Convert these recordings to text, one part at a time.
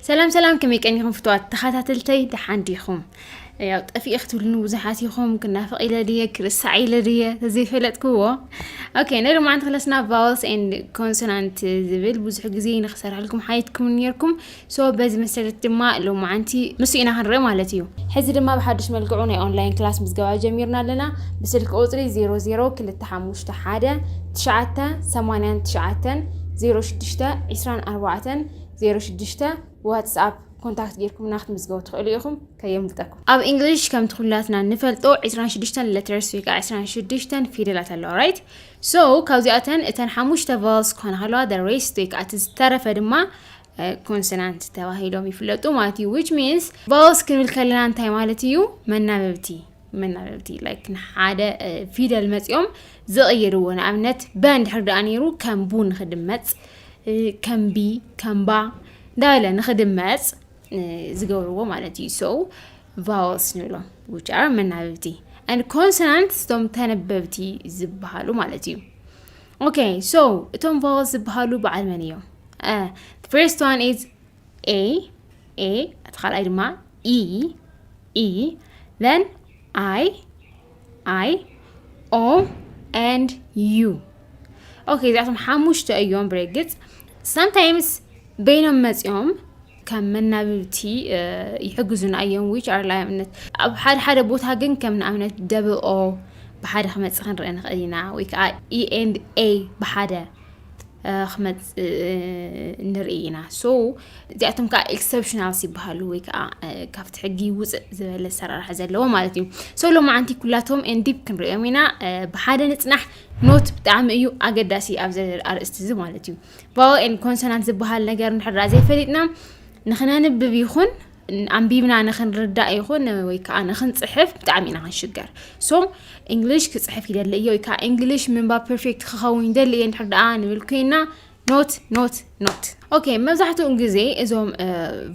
ሰላም ሰላም ከመይ ቀኒኹም ፍትዋት ተኸታተልተይ ደሓን ዲኹም ያው ጠፊእ ክትብሉኒ ብዙሓት ኢኹም ክናፍቕ ኢለ ድየ ክርሳዕ ኢለ ድየ ተዘይፈለጥክዎ ኦኬ ነሪ መዓንቲ ክለስና ቫወልስ ኤንድ ኮንሶናንት ዝብል ብዙሕ ግዜ ንክሰርሐልኩም ሓይትኩም ነርኩም ሶ በዚ መሰረት ድማ ሎማዓንቲ ንሱ ኢና ክንርኢ ማለት እዩ። ሕዚ ድማ ብሓዱሽ መልክዑ ናይ ኦንላይን ክላስ ምዝገባ ጀሚርና ኣለና። ብስልኪ ቁፅሪ 002519890624 06 ዋትስኣፕ ኮንታክት ጌርኩምና ክትምዝገቡ ትኽእሉ ኢኹም ከየምልጠኩም። ኣብ እንግሊሽ ከምቲ ኩላትና ንፈልጦ 26 ሌተርስ ወይ ከዓ 26 ፊደላት ኣለዋ ራይት ሶ ካብዚኣተን እተን ሓሙሽተ ቫልስ ክኾና ከለዋ ደ ሬስት ወይ ከዓ እቲ ዝተረፈ ድማ ኮንሶናንት ተባሂሎም ይፍለጡ ማለት እዩ ዊች ሚንስ ቫውልስ ክንብል ከለና እንታይ ማለት እዩ መናበብቲ መናበብቲ ላይክ ንሓደ ፊደል መፂኦም ዝቕይርዎ ንኣብነት በ እንድሕር ደኣ ነይሩ ከም ቡ ንክድመፅ ከም ቢ ከም ባ እንዳበለ ንክድመፅ ዝገብርዎ ማለት እዩ ሰው ቫውልስ ንብሎም ዊች ኣር መናበብቲ ን ኮንሶናንት ስቶም ተነበብቲ ዝበሃሉ ማለት እዩ ኦኬ ሶ እቶም ቫወልስ ዝበሃሉ በዓል መን እዮም? ፍርስት ዋን ኢዝ ኤ ኤ እቲ ካልኣይ ድማ ኢ ኢ ዘን ኣይ ኣይ ኦ ኤንድ ዩ ኦኬ እዚኣቶም ሓሙሽተ እዮም ብርግፅ ሳምታይምስ በይኖም መፂኦም ከም መናብብቲ ይሕግዙና እዮም ዊች ኣር ላኣብነት ኣብ ሓደ ሓደ ቦታ ግን ከም ንኣብነት ደብኦ ብሓደ ክመፅእ ክንርኢ ንኽእል ኢና ወይ ከዓ ኢኤንድ ኤ ብሓደ ክመፅእ ንርኢ ኢና ሶ እዚኣቶም ከዓ ኤክሰፕሽናልስ ይበሃሉ ወይ ከዓ ካብቲ ሕጊ ውፅእ ዝበለ ኣሰራርሓ ዘለዎ ማለት እዩ ሶ ሎማዓንቲ ኩላቶም ኤንዲፕ ክንሪኦም ኢና ብሓደ ንፅናሕ ኖት ብጣዕሚ እዩ ኣገዳሲ ኣብዚ ኣርእስቲ እዚ ማለት እዩ ቫወኤል ኮንሶናንት ዝበሃል ነገር ንሕድራ ዘይፈሊጥና ንክነንብብ ይኹን ኣንቢብና ንክንርዳእ ይኹን ወይ ከዓ ንክንፅሕፍ ብጣዕሚ ኢና ክንሽገር ሶ እንግሊሽ ክፅሕፍ ይደሊ እዮ ወይ ከዓ እንግሊሽ ምንባብ ፐርፌክት ክኸውን ይደሊ እየ ንድሕር ደኣ ንብል ኮይና ኖት ኖት ኖት ኦኬ መብዛሕትኡ ግዜ እዞም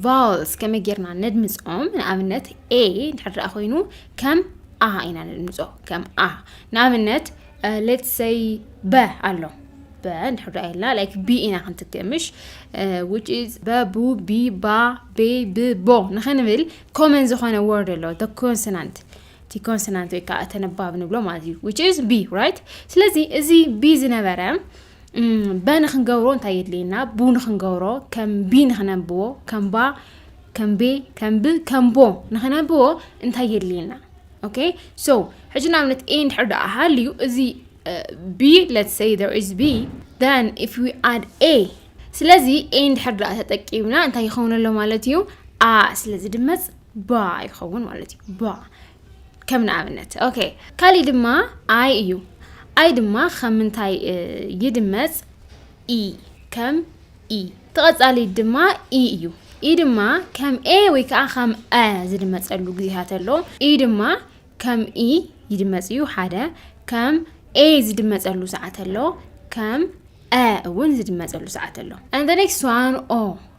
ቫልስ ከመይ ጌርና ነድምፆም ንኣብነት ኤ ንድሕር ደኣ ኮይኑ ከም ኣ ኢና ነድምፆ ከም ኣ ንኣብነት ሌትስ ሰይ በ ኣሎ በ እንድሕር ዳኣ ኢልና ላይክ ቢ ኢና ክንትክእ ምሽ ዊች ኢዝ በቡ ቢ ባ ቤ ብ ቦ ንክንብል ኮመን ዝኾነ ወርድ ኣሎ ደ ኮንሶናንት እቲ ኮንሶናንት ወይ ከዓ ተነባብ ንብሎ ማለት እዩ ዊች ኢዝ ቢ ራይት ስለዚ እዚ ቢ ዝነበረ በ ንክንገብሮ እንታይ የድልየና ቡ ንክንገብሮ ከም ቢ ንክነብዎ ከም ባ ከም ቤ ከም ብ ከም ቦ ንክነብዎ እንታይ የድልየና ኦኬ ሶ ሕጂ ንኣብነት ኤ እንድሕር ደኣ ሃልዩ እዚ ቢ ሌትስ ሰይ ዜር ኢዝ ቢ ን ኢፍ ዊ ኣድ ኤ ስለዚ ኤ እንድሕር ደኣ ተጠቂምና እንታይ ይኸውን ኣሎ ማለት እዩ ኣ ስለዚ ድመፅ ባ ይኸውን ማለት እዩ ባ ከም ንኣብነት ኦኬ ካሊእ ድማ ኣይ እዩ ኣይ ድማ ከም ምንታይ ይድመፅ ኢ ከም ኢ ተቐጻሊ ድማ ኢ እዩ ኢ ድማ ከም ኤ ወይ ከዓ ከም አ ዝድመፀሉ ግዜታት ኣሎ ኢ ድማ ከም ኢ ይድመፅ እዩ ሓደ ከም ኤ ዝድመፀሉ ሰዓት ኣሎ ከም አ እውን ዝድመፀሉ ሰዓት ኣሎ and the next one ኦ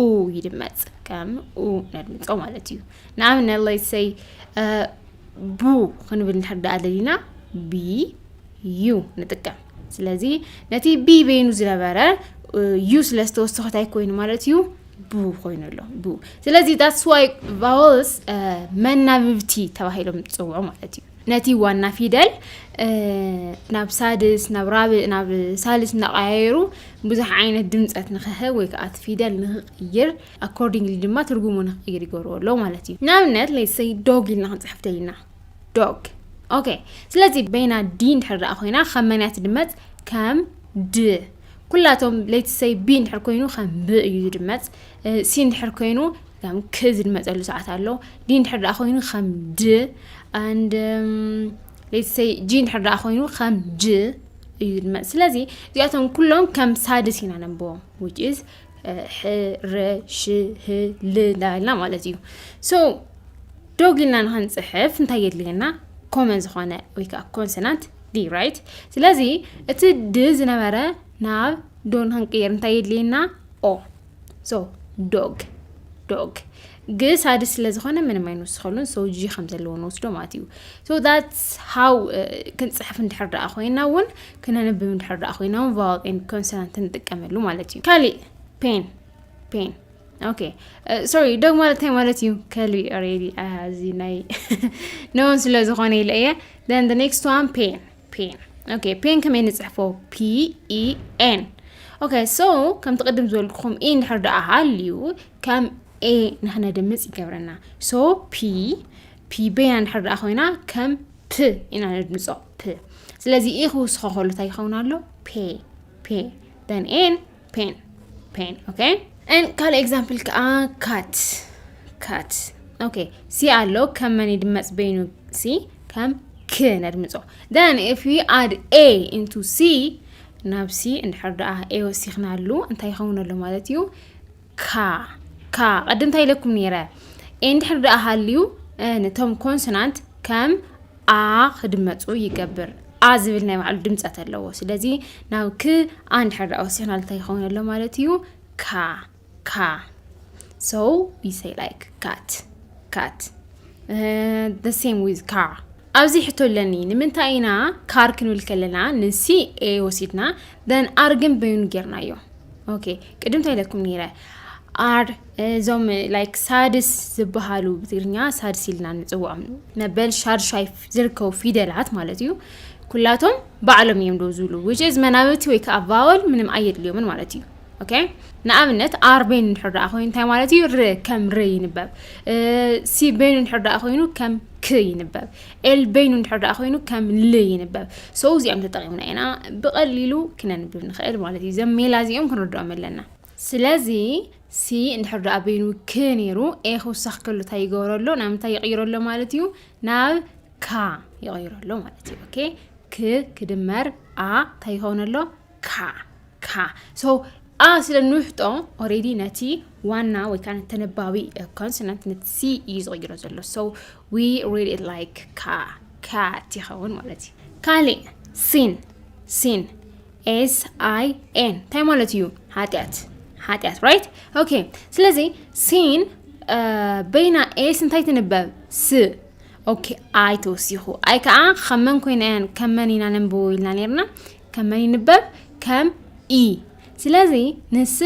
ኡ ይድመፅ ከም ኡ ነድምፆ ማለት እዩ ንኣብነት ለይሰይ ቡ ክንብል ንድሕር ዳኣ ደሊና ቢ ዩ ንጥቀም ስለዚ ነቲ ቢ በይኑ ዝነበረ ዩ ስለ ዝተወሰኸታይ ኮይኑ ማለት እዩ ቡ ኮይኑ ኣሎ ቡ ስለዚ ዳትስዋይ ቫወልስ መናብብቲ ተባሂሎም ዝፅውዑ ማለት እዩ ነቲ ዋና ፊደል ናብ ሳድስ ናብ ራብእ ናብ ሳልስ እናቐያየሩ ብዙሕ ዓይነት ድምፀት ንክህብ ወይ ከዓ እቲ ፊደል ንክቕይር ኣኮርዲንግሊ ድማ ትርጉሙ ንክቕይር ይገብርዎ ኣለዉ ማለት እዩ ንኣብነት ለይሰይ ዶግ ኢልና ክንፅሕፍ ደሊና ዶግ ኦኬ ስለዚ በይና ዲ እንድሕር ደኣ ኮይና ከም መንያ ትድመፅ ከም ድ ኩላቶም ለይትሰይ ቢ እንድሕር ኮይኑ ከም ብ እዩ ዝድመፅ ሲ እንድሕር ኮይኑ ከም ክ ዝድመፀሉ ሰዓት ኣሎ ዲ እንድሕር ደኣ ኮይኑ ከም ድ ኣንድ ሌትሰይ ጂ እንድሕር ደኣ ኮይኑ ከም ጅ እዩ ዝድመፅ ስለዚ እዚኣቶም ኩሎም ከም ሳድስ ኢና ነንብቦም ዊች ኢዝ ሕረ ሽህ ል እንዳበልና ማለት እዩ ሶ ዶግ ኢልና ንክንፅሕፍ እንታይ የድልየና ኮመን ዝኾነ ወይ ከዓ ኮንሶናንት ዲ ራይት ስለዚ እቲ ድ ዝነበረ ናብ ዶ ንክንቅየር እንታይ የድልየና ኦ ሶ ዶግ ዶግ ግስ ኣድስ ስለ ዝኾነ ምንም ኣይንውስኸሉን ሶ ጂ ከም ዘለዎ ንወስዶ ማለት እዩ ሶ ዳትስ ሃው ክንፅሕፍ እንድሕር ደኣ ኮይና እውን ክነንብብ እንድሕር ደኣ ኮይና እውን ቫዋል ኤን ኮንሶናንት ንጥቀመሉ ማለት እዩ ካሊእ ፔን ፔን ኦኬ ሶሪ ዶግ ማለት እንታይ ማለት እዩ ከሊ ሬዲ እዚ ናይ ነውን ስለ ዝኾነ ኢለ እየ ን ኔክስት ዋን ፔን ፔን ኦኬ ፔን ከመይ ንጽሕፎ ፒኢኤን ኦኬ ሶ ከምቲ ቅድም ዝበልኩኹም ኢ እንድሕር ደኣ ሃልዩ ከም ኤ ንክነድምፅ ይገብረና ሶ ፒ ፒ ቤና እንድሕር ደኣ ኮይና ከም ፕ ኢና ነድምፆ ፕ ስለዚ ኢ ክውስኾ ከሉ እንታይ ይኸውን ኣሎ ፔ ፔ ደን ኤን ፔን ፔን ኦኬ ን ካልእ ኤግዛምፕል ከዓ ካት ካት ኦኬ ሲ ኣሎ ከም መን ይድመፅ በይኑ ሲ ከም ክ ነድምፆ ደን ኢፍ ዩ ኣድ ኤ ኢንቱ ሲ ናብ ሲ እንድሕር ደኣ ኤ ወሲኽናሉ እንታይ ይኸውን ኣሎ ማለት እዩ ካ ካ ቀዲ እንታይ ኢለኩም ነይረ እንድሕር ደኣ ሃልዩ ነቶም ኮንሶናንት ከም ኣ ክድመፁ ይገብር ኣ ዝብል ናይ ባዕሉ ድምፀት ኣለዎ ስለዚ ናብ ክ ኣ እንድሕር ደኣ ወሲኽናል እንታይ ይኸውን ኣሎ ማለት እዩ ካ ካ so we say like cat cat uh, the same with car ኣብዚ ሕቶ ኣለኒ ንምንታይ ኢና ካር ክንብል ከለና ንሲ ኤ ወሲድና ደን ኣር ግን በይኑ ጌርናዮ ኦኬ ቅድም እንታይ ኢለኩም ነይረ ኣር እዞም ላይክ ሳድስ ዝበሃሉ ብትግርኛ ሳድስ ኢልና ንፅውዖም መበል ሻድሻይ ዝርከቡ ፊደላት ማለት እዩ ኩላቶም ባዕሎም እዮም ዶ ዝብሉ ውጭዝ መናብቲ ወይ ከዓ ቫወል ምንም ኣየድልዮምን ማለት እዩ ኦኬ ንኣብነት ኣር ቤን እንድሕር ደኣ ኮይኑ እንታይ ማለት እዩ ር ከም ር ይንበብ ሲ ቤን እንድሕር ደኣ ኮይኑ ከም ክ ይንበብ ኤል በይኑ እንድሕር ደኣ ኮይኑ ከም ል ይንበብ ሰው እዚኦም ተጠቂምና ኢና ብቐሊሉ ክነንብብ ንኽእል ማለት እዩ ዘም ሜላ እዚኦም ክንርድኦም ኣለና ስለዚ ሲ እንድሕር ደኣ በይኑ ክ ነይሩ ኤ ክውሳኽ ከሉ እንታይ ይገብረሎ ናብ ምንታይ ይቕይረሎ ማለት እዩ ናብ ካ ይቕይረሎ ማለት እዩ ኦኬ ክ ክድመር ኣ እንታይ ይኸውነሎ ካ ካ ሶ ኣ ስለ ንውሕጦ ኦሬዲ ነቲ ዋና ወይ ከዓ ተነባቢ ኮንሶናንት ነቲ ሲ እዩ ዝቕይሮ ዘሎ ሶ ዊ ሪድ ኢት ላይክ ካ ካ ትኸውን ማለት እዩ ካሊእ ሲን ሲን ኤስ ኣይ ኤን እንታይ ማለት እዩ ሓጢኣት ሓጢኣት ራይት ኦኬ ስለዚ ሲን በይና ኤስ እንታይ ትንበብ ስ ኦኬ ኣይ ተወሲኹ ኣይ ከዓ ከመን ኮይነን ከመን ኢና ነንብቦ ኢልና ነርና ከም መን ይንበብ ከም ኢ ስለዚ ንስ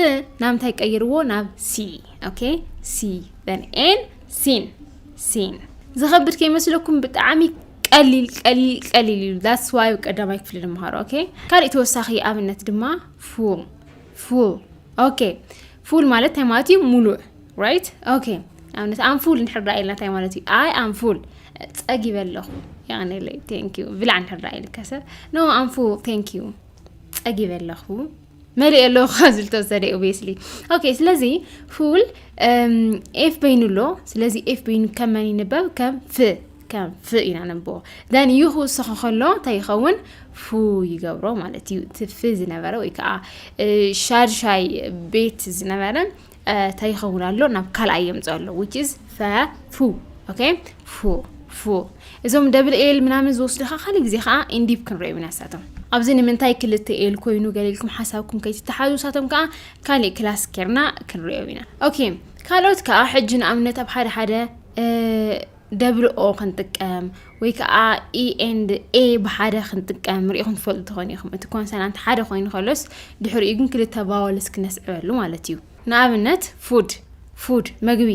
ናብ እንታይ ቀይርዎ ናብ ሲ ኦኬ ሲ ን ኤን ሲን ሲን ዝኸብድ ከይመስለኩም ብጣዕሚ ቀሊል ቀሊል ቀሊል እዩ ዳስ ዋይ ቀዳማይ ክፍሊ ንምሃሮ ኦኬ ካልእ ተወሳኺ ኣብነት ድማ ፉል ፉል ኦኬ ፉል ማለት እንታይ ማለት እዩ ሙሉእ ራይት ኦኬ ኣብነት ኣንፉል እንድሕር ደኣ ኢልና እንታይ ማለት እዩ ኣይ ኣንፉል ጸጊበ ኣለኹ የቐኒለይ ቴንክ ዩ ብላዕ እንድሕር ደኣ ኢልካሰ ኖ ኣንፉል ቴንክ ዩ ጸጊበ ኣለኹ መሊእ ኣለኹ ካብ ዝብል ተወሰደ ኦብስሊ ኦኬ ስለዚ ፉል ኤፍ በይኑ ኣሎ ስለዚ ኤፍ በይኑ ከም መን ይንበብ ከም ፍ ከም ፍ ኢና ነንብቦ ደን ዩ ክውስኾ ከሎ እንታይ ይኸውን ፉ ይገብሮ ማለት እዩ እቲ ፍ ዝነበረ ወይ ከዓ ሻድሻይ ቤት ዝነበረ እንታይ ይኸውን ኣሎ ናብ ካልኣይ የምፅኦ ኣሎ ዊች ኢዝ ፈ ፉ ኦኬ ፉ ፉ እዞም ደብል ኤል ምናምን ዝወስዱ ከዓ ካልእ ግዜ ከዓ ኢንዲፕ ክንሪኦም ኢና ንሳቶም ኣብዚ ንምንታይ ክልተ ኤል ኮይኑ ገሊልኩም ሓሳብኩም ከይትተሓዙ ንሳቶም ከዓ ካልእ ክላስ ኬርና ክንሪኦም ኢና ኦኬ ካልኦት ከዓ ሕጂ ንኣብነት ኣብ ሓደ ሓደ እ፣ ደብል ኦ ክንጥቀም ወይ ከዓ ኢ ኤንድ ኤ ብሓደ ክንጥቀም ሪኢኹም ትፈልጡ ትኾኑ ኢኹም እቲ ኮንሰናንት ሓደ ኮይኑ ከሎስ ድሕሪኡ ግን ክልተ ባወልስ ክነስዕበሉ ማለት እዩ ንኣብነት ፉድ ፉድ መግቢ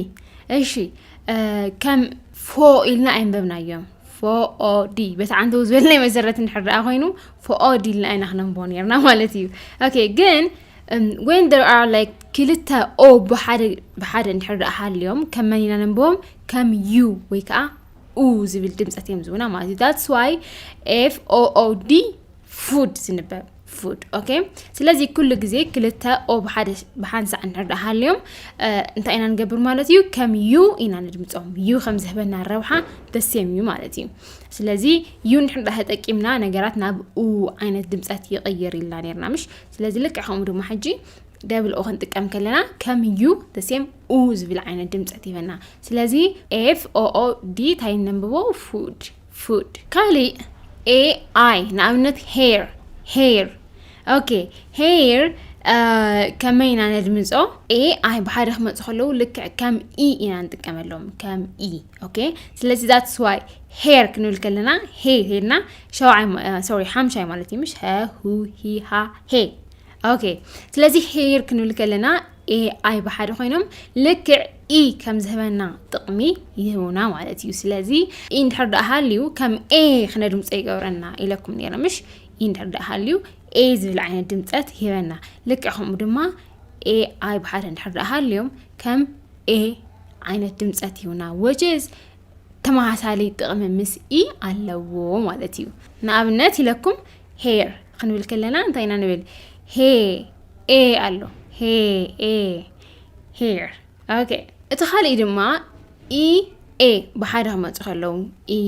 እሺ ከም ፎ ኢልና ኣይንበብናዮም ፎኦዲ በቲ ዓንተው ዝበል ናይ መሰረት ንሕርኣ ኮይኑ ፎኦዲ ኢልና ኣይና ክነንቦ ነርና ማለት እዩ ኦኬ ግን ወን ር ር ክልተ ኦ ብሓደ እንድሕር ሃልዮም ከም መን ኢና ነንብቦም ከም ዩ ወይ ከዓ ኡ ዝብል ድምፀት እዮም ዝውና ማለት እዩ ዳትስ ዋይ ኤፍ ኦኦዲ ፉድ ዝንበብ ፉድ ኦኬ ስለዚ ኩሉ ግዜ ክልተ ኦ ብሓደ ብሓንሳዕ እንድሕር ሃልዮም እንታይ ኢና ንገብር ማለት እዩ ከም ዩ ኢና ነድምፆም ዩ ከም ዝህበና ረብሓ ደሴም እዩ ማለት እዩ ስለዚ ዩ ንድሕር ዳ ተጠቂምና ነገራት ናብ ኡ ዓይነት ድምፀት ይቕይር ኢልና ነርና ምሽ ስለዚ ልክዕ ከምኡ ድማ ሕጂ ደብል ኦ ክንጥቀም ከለና ከም ዩ ደሴም ኡ ዝብል ዓይነት ድምፀት ይበና ስለዚ ኤፍ ኦኦ ዲ ታይ ነንብቦ ፉድ ፉድ ካሊእ ኤ ኣይ ንኣብነት ሄር ሄር ኦኬ ሄር ከመይ ኢና ነድምፆ ኤ ኣይ ብሓደ ክመፁ ከለዉ ልክዕ ከም ኢ ኢና ንጥቀመሎም ከም ኢ ኦኬ ስለዚ ዛት ስዋይ ሄር ክንብል ከለና ሄ ሄልና ሸውዓይ ሶሪ ሓምሻይ ማለት እዩ ምሽ ሀ ሁ ሂ ሃ ሄ ኦኬ ስለዚ ሄር ክንብል ከለና ኤኣይ ብሓደ ኮይኖም ልክዕ ኢ ከም ዝህበና ጥቕሚ ይህቡና ማለት እዩ ስለዚ ኢ እንድሕር ደኣ ሃልዩ ከም ኤ ክነድምፆ ይገብረና ኢለኩም ነረ ምሽ ኢ እንድሕር ደኣ ሃልዩ ኤ ዝብል ዓይነት ድምፀት ይህበና ልክዕ ከምኡ ድማ ኤኣይ ብሓደ እንድሕር ደኣ ሃልዮም ከም ኤ ዓይነት ድምፀት ይህቡና ወጀዝ ተመሳሳሊ ጥቕሚ ምስ ኢ ኣለዎ ማለት እዩ ንኣብነት ኢለኩም ሄር ክንብል ከለና እንታይ ኢና ንብል ሄ ኤ ኣሎ ሄ ኤ ሄር ኦኬ እቲ ካልእ ድማ ኢ ኤ ብሓደ ክመፁ ከለዉ ኢ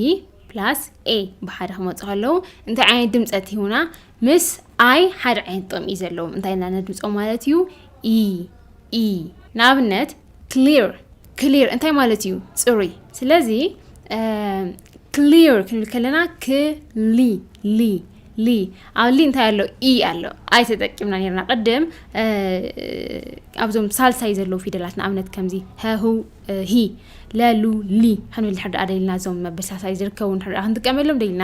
ፕላስ ኤ ብሓደ ክመፁ ከለዉ እንታይ ዓይነት ድምፀት ይሁና ምስ ኣይ ሓደ ዓይነት ጥቕሚ እዩ ዘለዎም እንታይ ኢና ነድምፆ ማለት እዩ ኢ ኢ ንኣብነት ክሊር ክሊር እንታይ ማለት እዩ? ፅሩይ። ስለዚ ክሊር ክንብል ከለና ክሊ ሊ ሊ ኣብ ሊ እንታይ ኣሎ ኢ ኣሎ ኣይ ተጠቂምና ነርና ቅድም ኣብዞም ሳልሳይ ዘለዉ ፊደላት ንኣብነት ከምዚ ሀሁ ሂ ለሉ ሊ ክንብል ድሕር ድኣ ደሊና እዞም መበል ሳልሳይ ዝርከቡ ድሕር ድኣ ክንጥቀመሎም ደሊና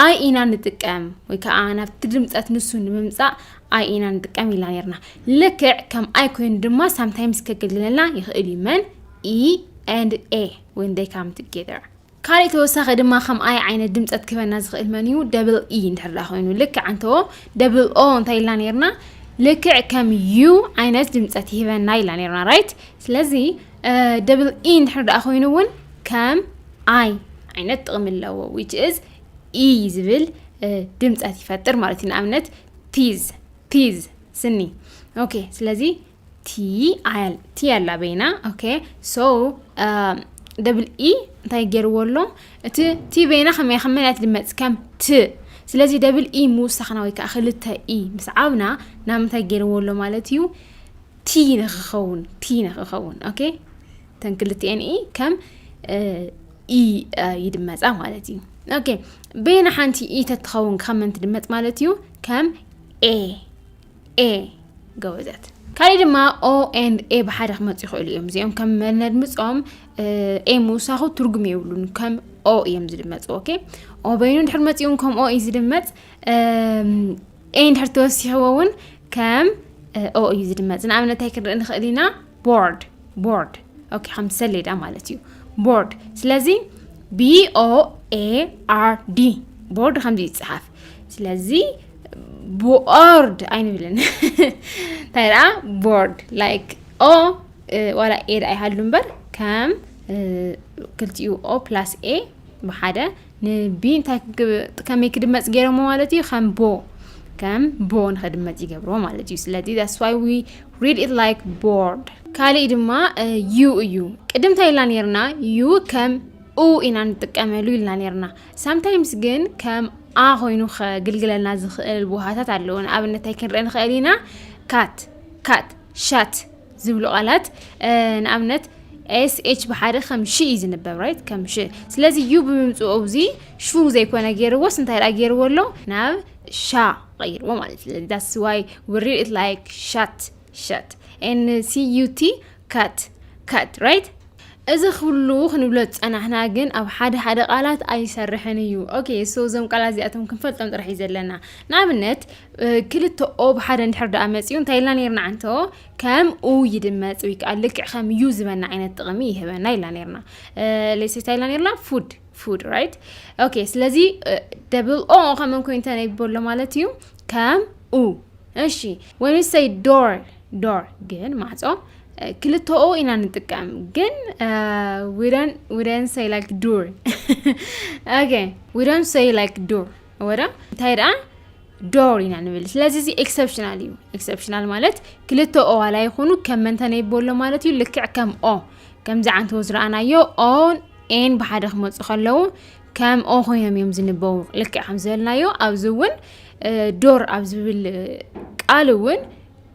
ኣይ ኢና ንጥቀም ወይ ከዓ ናብቲ ድምፀት ንሱ ንምምፃእ ኣይ ኢና ንጥቀም ኢልና ነርና ልክዕ ከም ኣይ ኮይኑ ድማ ሳምታይምስ ከገልግለና ይኽእል እዩ መን ኢ ኤንድ ኤ ወን ደይ ካም ቱጌዘር ካልእ ተወሳኺ ድማ ከም ኣይ ዓይነት ድምፀት ክህበና ዝኽእል መን እዩ ደብል ኢ እንድሕር ዳ ኮይኑ ልክዕ እንተዎ ደብል ኦ እንታይ ኢልና ነርና ልክዕ ከም ዩ ዓይነት ድምፀት ይህበና ኢልና ነርና ራይት ስለዚ ደብል ኢ እንድሕር ዳ ኮይኑ እውን ከም ኣይ ዓይነት ጥቕሚ ኣለዎ ዊች እዝ ኢ ዝብል ድምፀት ይፈጥር ማለት እዩ ንኣብነት ቲዝ ቲዝ ስኒ ኦኬ ስለዚ ቲ ኣያል ቲ ኣላ በይና ኦኬ ሶ ደብል ኢ እንታይ ገይርዎ ኣሎ እቲ ቲ በይና ከመይ ከም መናት ድመፅ ከም ት ስለዚ ደብል ኢ ምውሳኽና ወይ ከዓ ክልተ ኢ ምስ ዓብና ናብ ምንታይ ገይርዎ ኣሎ ማለት እዩ ቲ ንክኸውን ቲ ንክኸውን ኦኬ እተን ክልቲኤን ኢ ከም ኢ ይድመፃ ማለት እዩ ኦኬ በየና ሓንቲ ኢ ተትኸውን ካብ መን ትድመፅ ማለት እዩ ከም ኤ ኤ ገወዘት ካልእ ድማ ኦ ኤንድ ኤ ብሓደ ክመፁ ይኽእሉ እዮም እዚኦም ከም መነድምፆም ኤ ምውሳኹ ትርጉም የብሉን ከም ኦ እዮም ዝድመፁ ኦኬ ኦ በይኑ ድሕር መፂኡን ከም ኦ እዩ ዝድመፅ ኤይ እንድሕር ተወሲሕዎ እውን ከም ኦ እዩ ዝድመፅ ንኣብነት እንታይ ክንርኢ ንኽእል ኢና ቦርድ ቦርድ ኦኬ ከምቲ ሰሌዳ ማለት እዩ ቦርድ ስለዚ ቢኦ ኤኣርዲ ቦርድ ከምዚ ይፅሓፍ ስለዚ ቦርድ ኣይንብልን እንታይ ደኣ ቦርድ ላይክ ኦ ዋላ ኤ ደኣ ይሃሉ እምበር ከም ክልቲኡ ኦ ፕላስ ኤ ብሓደ ንቢ እንታይ ከመይ ክድመፅ ገይሮሞ ማለት እዩ ከም ቦ ከም ቦ ንክድመፅ ይገብሮ ማለት እዩ ስለዚ ዳስ ዋይ ዊ ሪድ ኢት ላይክ ቦርድ ካሊእ ድማ ዩ እዩ ቅድም እንታይ ኢልና ነርና ዩ ከም ኡ ኢና ንጥቀመሉ ኢልና ነርና ሳምታይምስ ግን ከም ኣ ኮይኑ ከግልግለና ዝኽእል ውሃታት ኣለዎ ንኣብነት እንታይ ክንርኢ ንኽእል ኢና ካት ካት ሻት ዝብሉ ቃላት ንኣብነት ኤስ ኤች ብሓደ ከም ሽ እዩ ዝንበብ ራይት ከም ሽ ስለዚ ዩ ብምምፅኡ እዚ ሹ ዘይኮነ ገይርዎስ እንታይ ደኣ ገይርዎ ኣሎ ናብ ሻ ቀይርዎ ማለት እዩ ዳስ ዋይ ውሪ ኢት ላይክ ሻት ሻት ኤን ሲ ዩ ቲ ካት ካት ራይት እዚ ኩሉ ክንብሎ ዝፀናሕና ግን ኣብ ሓደ ሓደ ቃላት ኣይሰርሕን እዩ ኦኬ ሶ እዞም ቃላት እዚኣቶም ክንፈልጦም ጥራሕ እዩ ዘለና ንኣብነት ክልተ ኦ ብሓደ እንድሕር ደኣ መጺኡ እንታይ ኢልና ነርና ዓንቶ ከም ኡ ይድመጽ ወይ ከዓ ልክዕ ከም ዩ ዝበና ዓይነት ጥቕሚ ይህበና ኢልና ነርና ሌሴ እንታይ ኢልና ነርና ፉድ ፉድ ራይት ኦኬ ስለዚ ደብል ኦ ከመን ኮይኑ ተነቢበሎ ማለት እዩ ከም ኡ እሺ ወን ሰይ ዶር ዶር ግን ማዕፆ ክልተ ኦ ኢና ንጥቀም ግን ዊደን ሰይ ላይክ ዱር ኦኬ ዊደን ሰይ ላይክ ዱር ወረ እንታይ ደኣ ዶር ኢና ንብል ስለዚ እዚ ኤክሰፕሽናል እዩ ኤክሰፕሽናል ማለት ክልተ ኦ ዋላ ይኹኑ ከም መንተ ነይበሎ ማለት እዩ ልክዕ ከም ኦ ከምዚ ዓንተዎ ዝረኣናዮ ኦን ኤን ብሓደ ክመፁ ከለዉ ከም ኦ ኮይኖም እዮም ዝንበቡ ልክዕ ከም ዝበልናዮ ኣብዚ እውን ዶር ኣብ ዝብል ቃል እውን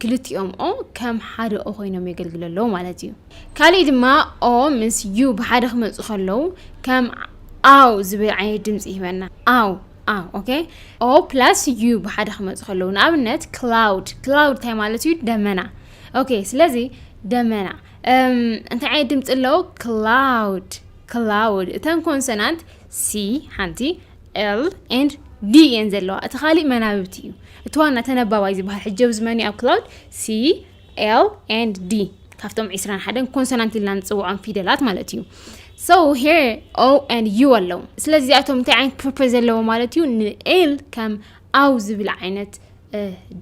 ክልቲኦም ኦ ከም ሓደ ኦ ኮይኖም የገልግሉ ኣለዉ ማለት እዩ ካሊእ ድማ ኦ ምስ ዩ ብሓደ ክመፁ ከለዉ ከም ኣው ዝብል ዓይነት ድምፂ ይህበና ኣው ኣው ኦኬ ኦ ፕላስ ዩ ብሓደ ክመፁ ከለዉ ንኣብነት ክላውድ ክላውድ እንታይ ማለት እዩ ደመና ኦኬ ስለዚ ደመና እንታይ ዓይነት ድምፂ ኣለዎ ክላውድ ክላውድ እተን ኮንሶናንት ሲ ሓንቲ L and D እየን ዘለዋ እቲ ካሊእ መናብብቲ እዩ እቲ ዋና ተነባባይ ዝበሃል ሕጂ ኣብዚ መን እዩ ኣብ ክላውድ C L and D ካብቶም 21 ኮንሶናንት ኢልና ንፅውዖም ፊደላት ማለት እዩ so here O and U ኣለዉ ስለዚ እዚኣቶም እንታይ ዓይነት ፐርፐዝ ዘለዎ ማለት እዩ ንኤል ከም ኣው ዝብል ዓይነት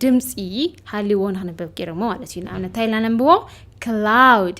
ድምፂ ሃልዎ ንክንበብ ገይሮሞ ማለት እዩ ንኣብነት እንታይ ኢልና ነንብቦ ክላውድ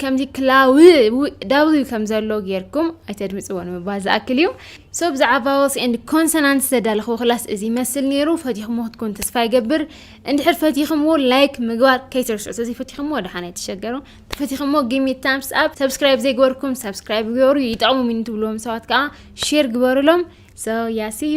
ከምዚ ክላው ዳብልዩ ከም ዘሎ ጌርኩም ኣይተድምፅዎ ንምባል ዝኣክል እዩ ሶ ብዛዕባ ቫወልስ ኤንድ ኮንሶናንት ዝተዳለኽዎ ክላስ እዚ ይመስል ነይሩ ፈቲኹሞ ክትኮኑ ተስፋ ይገብር እንድሕር ፈቲኹምዎ ላይክ ምግባር ከይትርስዑ እዚ ፈቲኹሞ ደሓን ኣይትሸገሩ ተፈቲኹሞ ጊሚ ታምስ ኣብ ሰብስክራይብ ዘይግበርኩም ሰብስክራይብ ግበሩ ይጠቕሙ ሚኒ ትብልዎም ሰባት ከዓ ሼር ግበሩሎም ሶ ያስዩ